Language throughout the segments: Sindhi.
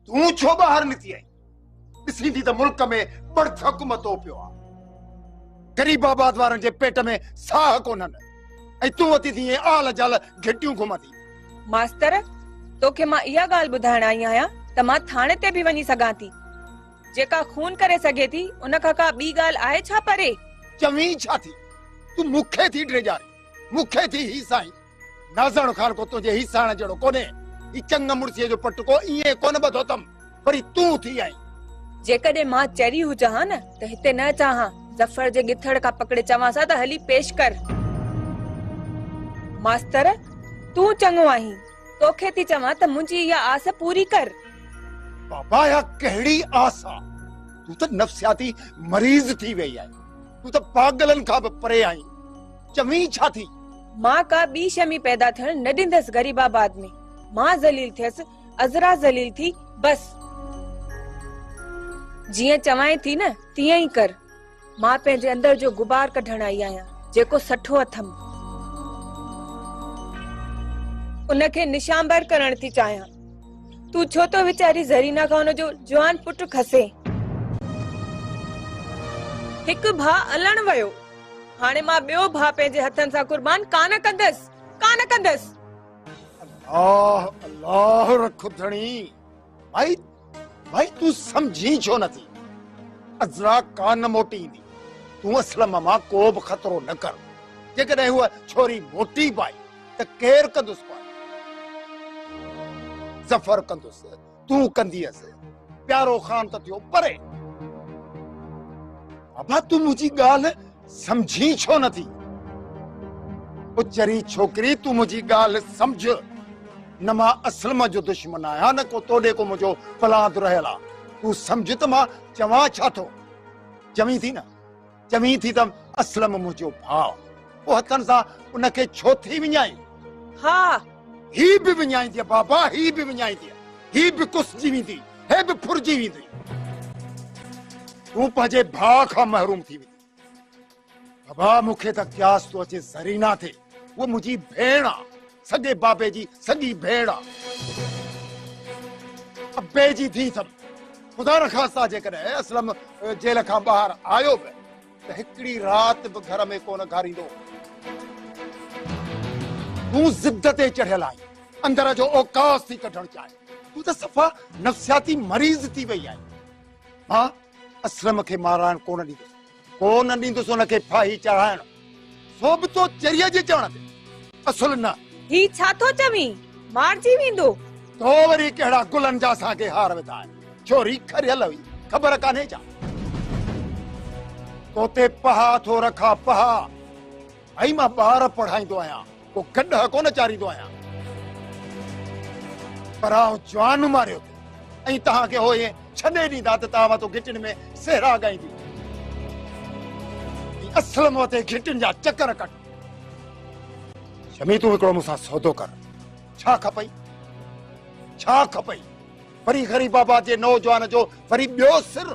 تون ڇو ٻاهر نڪتي آهين؟ ڏسين ٿي ته ملڪ ۾ ٻڙڌڪ متو پيو آهي. غريب آباد وارن جي پيٽ ۾ ساهه ڪونهن ۽ تون وتي ٿي ائين آل جال گهٽيون گهمندي ماستر توکي مان اها ڳالهه ٻڌائڻ آئي آهيان ته مان ٿاڻي تي به وڃي سگهان ٿي جيڪا خون ڪري سگهي ٿي ان کان ڪا ٻي ڳالهه آهي ڇا پري چوين ڇا ٿي تون مونکي ٿي ڊيڄارين مونکي ٿي هي سائين نازاڻو خان ڪو تنهنجي هي ساڻ جهڙو ڪونهي هي چنگ مڙسيء جو پٽ ڪو ائين ڪونه ٻڌو اٿم وري تون ٿي آئين جيڪڏهن مان چري هجان ها نه ته هتي نه اچان ها ظفر جي ڳٿڙ کان پڪڙي چوانس ها ته هلي پيش ڪر ماستر تون چڱو آهين توکي ٿي چوان ته منهنجي اها آس پوري ڪر بابا يا ڪهڙي آس آ تون ته نفسياتي مريض ٿي ويئي آهي تون ته پاگلن کان به پري آهين چوين ڇا ٿي؟ مان ڪا ٻي شيء ۾ پيدا ٿيڻ نه ڏيندس غريب آباد ۾. مان ذليل ٿيس، عذرا ذليل ٿي، بس. جيئن چوانء ٿي نه، تيئن ئي ڪر. مان پنهنجي اندر جو غبار ڪڍڻ آئي آهيان، جيڪو سٺو اٿم. ان کي نشانبر ڪرڻ ٿي چاهيان. تون ڇو ٿو ويچاري زرينا کان ان جو جوان پٽ کسين؟ هڪ ڀاء الڻ ويو. هاڻي مان ٻيو ڀاء پنهنجي هٿن سان قربان ڪانه ڪندس، ڪانه ڪندس. الله الله رک ڌڻي. ڀائي ڀائي تون سمجهين ڇو نه ٿي. عذرا ڪا نه موٽي ايندي. تون اسلم مان ڪو به خطرو نه ڪر. جيڪڏهن هوء ڇوري موٽي به آئي ته ڪير ڪندس پاڻ. ظفر ڪندس. تون ڪنديس پيارو خان ته ٿيو پري. ابا تون منهنجي ڳالهه سمجهين ڇو نه ٿي. او چري ڇوڪري تون منهنجي ڳالهه سمجهه نه مان اسلم جو دشمن آهيان نه ڪو توڏي ڪو منهنجو پلاند رهيل آ تون سمجهه ته مان چوان ڇا ٿو چوين ٿي نه چوين ٿي ته اسلم منهنجو ڀاء، پوء هٿن سان ان کي ڇو ٿي وڃائين؟ ها! هي به وڃائينديء بابا، هي به وڃائينديء. هي به ڪسجي ويندي، هي به ڦرجي ويندي. تون پنهنجي ڀاء کان محروم ٿي ويندين. بابا مون کي ته قياس ٿو اچي زرينه تي. هوء منهنجي ڀيڻ آ. سڳي بابي جي سڳي ڀيڻ آ. ابي جي ڌيء اٿم. خدا نخواسته جيڪڏهن اسلم جيل کان ٻاهر آيو به ته هڪڙي رات به گهر ۾ ڪونه گهاريندو. تون ضد تي چڙهيل آهين. اندر جو اوقاف ٿي ڪڍڻ چاهين. تون ته صفا نفسياتي مريض ٿي وئي آهين. مان اسلم کي مارائڻ ڪونه ڏيندس. ڪو نه ڏيندس ان کي ڦاهي چڙهائڻ، سو به تو چريء جي چوڻ تي. اصل نه. هي ڇا ٿو چوين؟ مارجي ويندو. تو وري ڪهڙا گلن جا اسان کي هار وڌا آهن. ڇوري کريل هئي، خبر ڪانهي ڇا؟ تو تي پها ٿو رکان، پها. ڀائي مان ٻار پڙهائيندو آهيان ڪو گڏهه ڪونه چاريندو آهيان پر آئون جوان ماريو ٿي ۽ توهان کي هو ائين ڇڏي ڏيندا ته توهان مٿو گهٽين ۾ سهرا ڳائينديون اصل مون تي گهٽين جا چڪر ڪٽ شمي تون هڪڙو مون سان سودو ڪر ڇا کپئي ڇا کپئي وري غريب آباد جي نوجوان جو وري ٻيو سر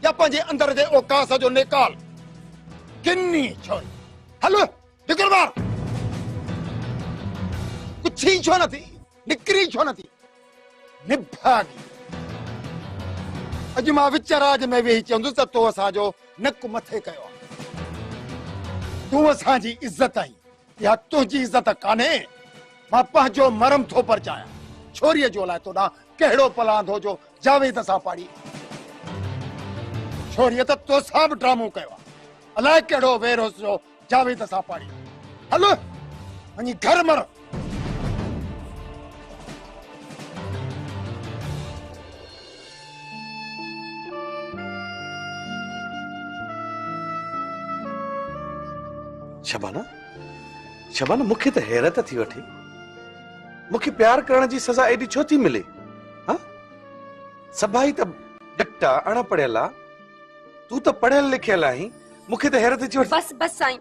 يا پنهنجي اندر جي اوڪاس جو نيڪال ڪني ڇوئي هل نڪر ٻاهر پڇي ڇو نه ٿي نڪري ڇو نه ٿي نڀاڳي اڄ مان وچ راج ۾ ويهي چوندس ته تو اسان جو نڪ مٿي ڪيو تون اسان جي عزت آهين اها تنهنجي عزت ڪانهي، مان پنهنجو مرم ٿو پرچايان، ڇوريء جو الائي تو ڏانهن ڪهڙو پلاندو جو جاويد سان پاڙي. ڇوريء ته توسان به ڊرامو ڪيو آهي، الائي ڪهڙو وير هوس جو جاويد سان پاڙي. هل وڃي گهر مر. شبانه شبانه مون کي ته حيرت ٿي وٺي مون کي پيار ڪرڻ جي سزا ايڏي ڇو ٿي ملي ها سڀائي ته ڊڪٽا اڻ پڙهيل آ تون ته پڙهيل لکيل آهين مون کي ته حيرت ٿي وٺي بس بس سائين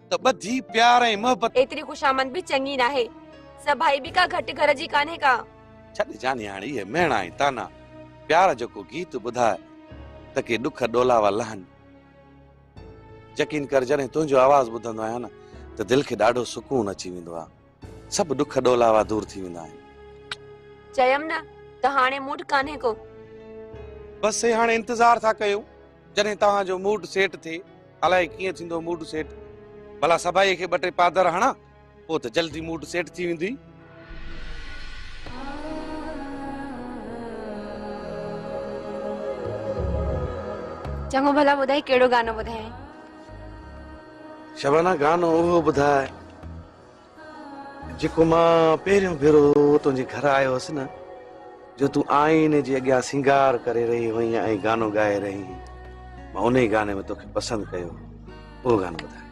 ته ٻڌي پيار ۽ محبت. ايتري خوشامند به چڱي ناهي. سڀائي به ڪا گهٽ گهر جي ڪانهي ڪا. ڇڏ جاني هاڻي اهي مهڻا ۽ طعنا. پيار جو ڪو گيت ٻڌاء ته ڪي ڏک ڏولاوا لهن. يقين ڪر جڏهن تنهنجو آواز ٻڌندو آهيان نه ته دل کي ڏاڍو سڪون اچي ويندو آهي. سڀ ڏک ڏولاوا دور ٿي ويندا آهن. چيم نه ته هاڻي موڊ ڪانهي ڪو. بس سي هاڻي انتظار ٿا ڪيون جڏهن توهان جو موڊ سيٽ ٿئي. الائي ڪيئن ٿيندو موڊ سيٽ. ڀلا سڀائيء کي ٻه ٽي پادر هڻان پوء ته جلدي موڊ سيٽ ٿي ويندي. چڱو ڀلا ٻڌاء ڪهڙو گانو ٻڌايائين. شبانه گانو اهو ٻڌاء. جيڪو مان پهريون ڀيرو تنهنجي گهر آيو هوس نه جو تون آئيني جي اڳيان سينگار ڪري رهي هئين ۽ گانو ڳائي رهي هئين مان ان ئي گاني ۾ توکي پسند ڪيو اهو گانو ٻڌاء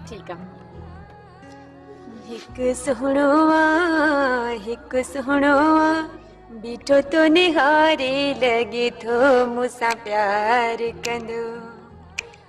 ٺيڪ آ هڪ سهڻو آ هڪ سهڻو آ بيٺو تو نهاري لڳي ٿو مون سان پيار ڪندو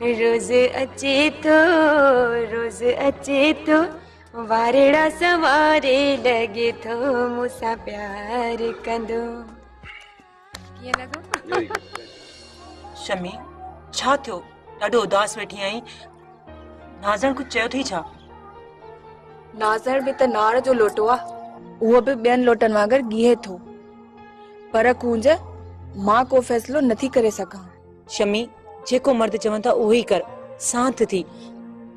روز اچي ٿو روز اچي ٿو وارڙا سواري لڳي ٿو مون سان پيار ڪندو ڪيئن لڳو شمي ڇا ٿيو ڏاڍو اداس ويٺي آهين نازڻ ڪجهه چيو اٿئي ڇا نازڻ به ته ناڙ جو لوٽو آ اهو به ٻين لوٽن وانگر گيهي ٿو پر ڪونج مان ڪو فيصلو نٿي ڪري سگهان شمي جيڪو مرد چون ٿا اهو ئي ڪر سانت ٿي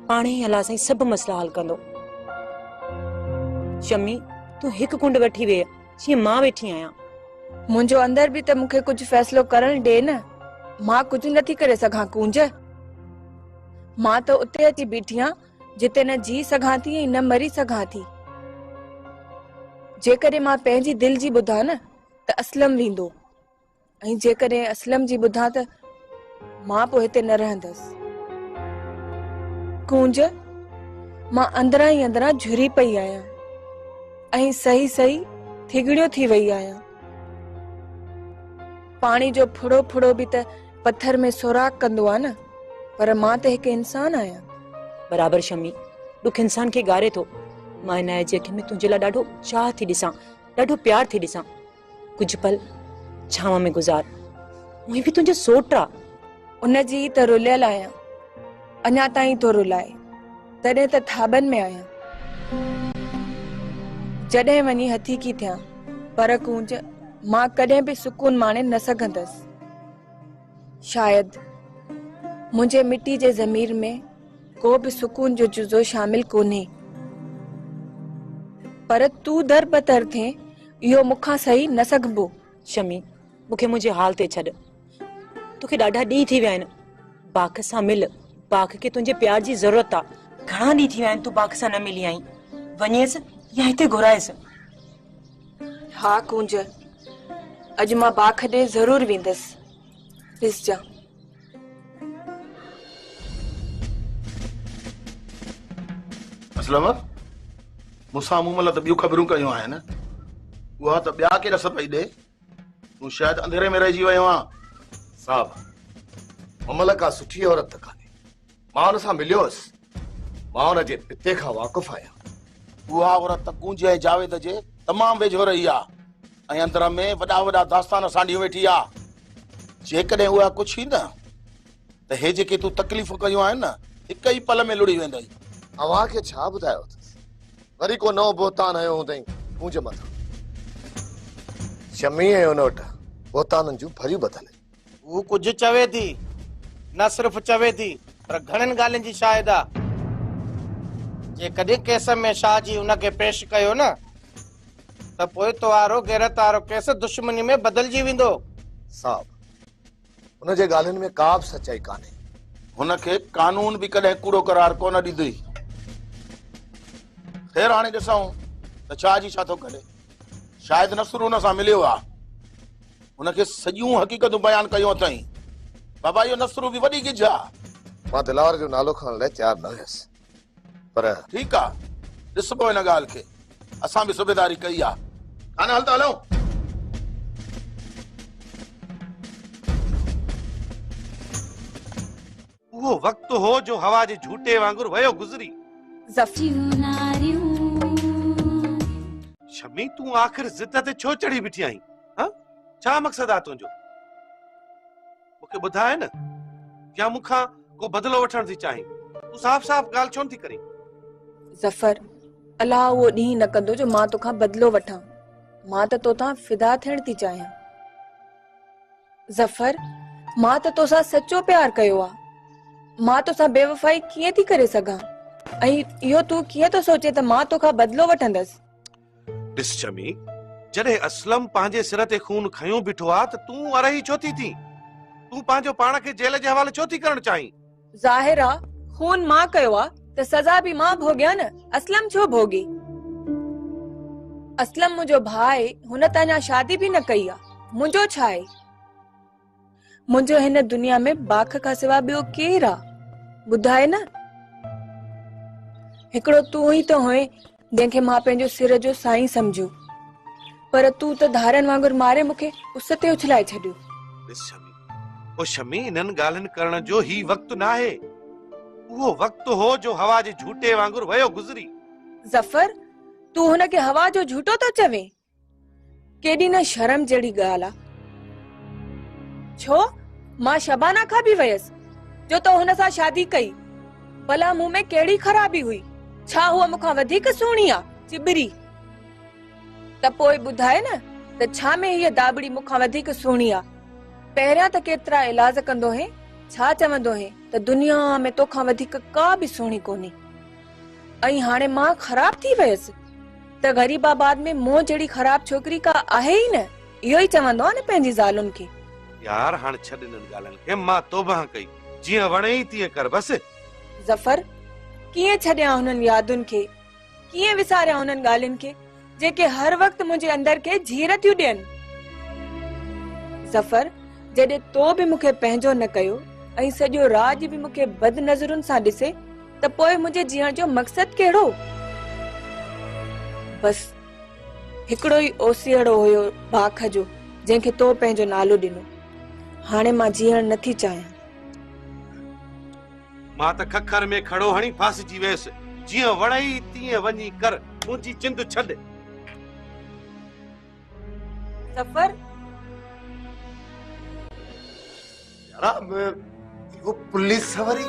پاڻ هي الله سائين سڀ مسئلا حل ڪندو شمي تون هڪ ڪنڊ وٺي ويهه جيئن مان ويٺي آهيان منهنجو اندر به ته مونکي ڪجهه فيصلو ڪرڻ ڏي نه مان ڪجهه نٿي ڪري سگهان ڪونج مان ته اتي اچي بيٺي آهيان جتي نه جي سگهان ٿي ۽ نه مري سگهان ٿي جيڪڏهن مان پنهنجي دل جي ٻڌان نه ته اسلم ويندو ۽ جيڪڏهن اسلم جي ٻڌان ته مان پوء هتي نه رهندس ڪونج مان اندران ئي اندران جھري پئي آهيان ۽ صحيح صحيح ٿگڙيو ٿي وئي آهيان پاڻي جو ڦڙو ڦڙو به ته پٿر ۾ سوراخ ڪندو آهي نه پر مان ته هڪ انسان آهيان برابر شمي ڏک انسان کي ڳاري ٿو مان عنايت جي اکين ۾ تنهنجي لاء ڏاڍو چاهه ٿي ڏسان ڏاڍو پيار ٿي ڏسان ڪجهه پل ڇانو ۾ گذار اوهين به تنهنجو سوٽ آ ان جي ته رليل آهيان اڃا تائين ٿو رلائي تڏهن ته ٿاٻن ۾ آهيان جڏهن وڃي هٿي ڪي ٿيان پر ڪونج مان ڪڏهن به سڪون ماڻي نه سگهندس شايد منهنجي مٽي جي ضمير ۾ ڪو به سڪون جو جزو شامل ڪونهي پر تون در بتر ٿين اهو مون کان سهي نه سگهبو. شمي، مون کي منهنجي حال تي ڇڏ. توکي ڏاڍا ڏينهن ٿي ويا آهن. باک سان مل. باک کي تنهنجي پيار جي ضرورت آ. گهڻا ڏينهن ٿي ويا آهن تون باک سان نه ملي آهين. وڃيس يا هتي گهرائيس. ها ڪونج، اڄ مان باک ڏي ضرور ويندس. ڏسجان. اسلم مون سان مون ملت ٻيون خبرون ڪيون آهن اها ته ٻيا ڪيڏا سر پئي ڏي تون شايد اندھيري ۾ رهجي ويو آهين صاحب مملڪا سٺي عورت ڪانهي مان ان سان مليو هيس مان ان جي پتي کان واقف آهيان اها عورت ڪونجي ۽ جاويد جي تمام ويجهو رهي آ ۽ اندر ۾ وڏا وڏا داستان سانڍيون ويٺي آ جيڪڏهن اها ڪجهه ئي نه ته هي جيڪي تون تڪليفون ڪيون آهن نه هڪ ئي پل ۾ لڙي ويندئي اوهان کي ڇا ٻڌايو اٿس وري ڪو نئون بهتان هنيو هوندئي منهنجي مٿان شميع ۽ ان وٽ بهتانن جون ڀريون ٻڌل هو ڪجهه چوي ٿي نه صرف چوي ٿي پر گهڻين ڳالهين جي شاهد آ جي ڪڏهن ڪيس ۾ شاهه جي ان کي پيش ڪيو نه ته پوء توهارو غيرت وارو ڪيس دشمني ۾ بدلجي ويندو صاحب هن جي ڳالهين ۾ ڪا به سچائي ڪانهي هن کي قانون به ڪڏهن ڪوڙو قرار ڪونه ڏيندي خير هاڻي ڏسون ته شاهه جي ڇا ٿو ڪري شايد نصر هن سان مليو آ هن کي سڄيون حقيقتون بيان ڪيون اٿائين. بابا اهو نصرو به وڏي ڳجهه آ. مان دلاور جو نالو کڻڻ لاء تيار نه هيس پر. ٺيڪ آ ڏسبو هن ڳالهه کي. اسان به صوبيداري ڪئي آ. ڪانه هل ته هلون. اهو وقت هو جو هوا جي جهوٽي وانگر ويو گذري. شمي تون آخر ضد تي ڇو چڙهي بيٺي آهين ها ڇا مقصد آ تنهنجو مون کي ٻڌاء نه يا مون کان ڪو بدلو وٺڻ ٿي چاهين تون صاف صاف ڳالهه ڇو نه ٿي ڪرين ظفر الله اهو ڏينهن نه ڪندو جو مان توکان بدلو وٺان مان ته توتان فدا ٿيڻ ٿي چاهيان ظفر، مان ته توسان سچو پيار ڪيو آ. مان توسان بيوفائي ڪيئن ٿي ڪري سگهان؟ ۽ اهو تون ڪيئن ٿو سوچين ته مان توکان بدلو وٺندس؟ ڏس شمي، جڏهن اسلم پنهنجي سر تي خون کنيو بيٺو آ ته تون ارهي ڇو ٿي ٿين؟ تون پنهنجو پاڻ کي جيل جي حوالي ڇو ٿي ڪرڻ چاهين؟ ظاهر آ خون مان ڪيو آ ته سزا به مان ڀوڳيان نه اسلم ڇو ڀوڳي؟ اسلم منهنجو ڀاء آهي هن ته اڃا شادي به نه ڪئي آ منهنجو ڇا آهي؟ منهنجو هن دنيا ۾ باک کان سوا ٻيو ڪير آ ٻڌاء نه؟ هڪڙو تون ئي ته هئين جنهن کي مان پنهنجو سر جو سائين سمجهيو پر تون ته ڌارن وانگر ماري مون کي اس تي اڇلائي ڇڏيو. ڏس شمي، او شمي انهن ڳالهين ڪرڻ جو هي وقت ناهي. اهو وقت هو جو هوا جي جهوٽي وانگر ويو گذري. ظفر، تون هن کي هوا جو جهوٽو ٿو چوين؟ ڪيڏي نه شرم جهڙي ڳالهه آ. ڇو مان شبانا کان به ويس جو تو هن سان شادي ڪئي ڀلا مون ۾ ڪهڙي خرابي هئي ڇا هو مون کان وڌيڪ سهڻي آ چٻري ته پوء ٻڌاء نه ته ڇا ۾ هيء داٻڙي مون کان وڌيڪ سهڻي آ پهريان ته ڪيترا الاز ڪندو هين ڇا چوندو هين ته دنيا ۾ تو کان وڌيڪ ڪا به سهڻي ڪونهي ۽ هاڻي مان خراب ٿي ويس ته غريب آباد ۾ مون جهڙي خراب ڇوڪري ڪا آهي ئي نه اهو ئي چوندو آهي نه پنهنجي زالن کي. يار هاڻ ڇڏ انهن ڳالهين کي مان توبهه ڪئي جيئن وڻيئي تيئن ڪر بس. ظفر، ڪيئن ڇڏيان هنن يادن کي ڪيئن وساريان هنن ڳالهين کي. جيڪي هر وقت منهنجي اندر کي جھير ٿيون ڏين. ظفر، جڏهن تو به مون کي پنهنجو نه ڪيو ۽ سڄو راڄ به مون کي بد نظرن سان ڏسي ته پوء منهنجي جيئڻ جو مقصد ڪهڙو؟ بس، هڪڙو ئي اوسيئڙو هيو باک جو جنهن کي تو پنهنجو نالو ڏنو. هاڻي مان جيئڻ نه ٿي چاهيان. مان ته ککر ۾ کڙو هڻي ڦاسجي ويس. جيئن وڻئي تيئن وڃي ڪر، منهنجي چند ڇڏ. ظفر! جناب، اهو پوليس وري؟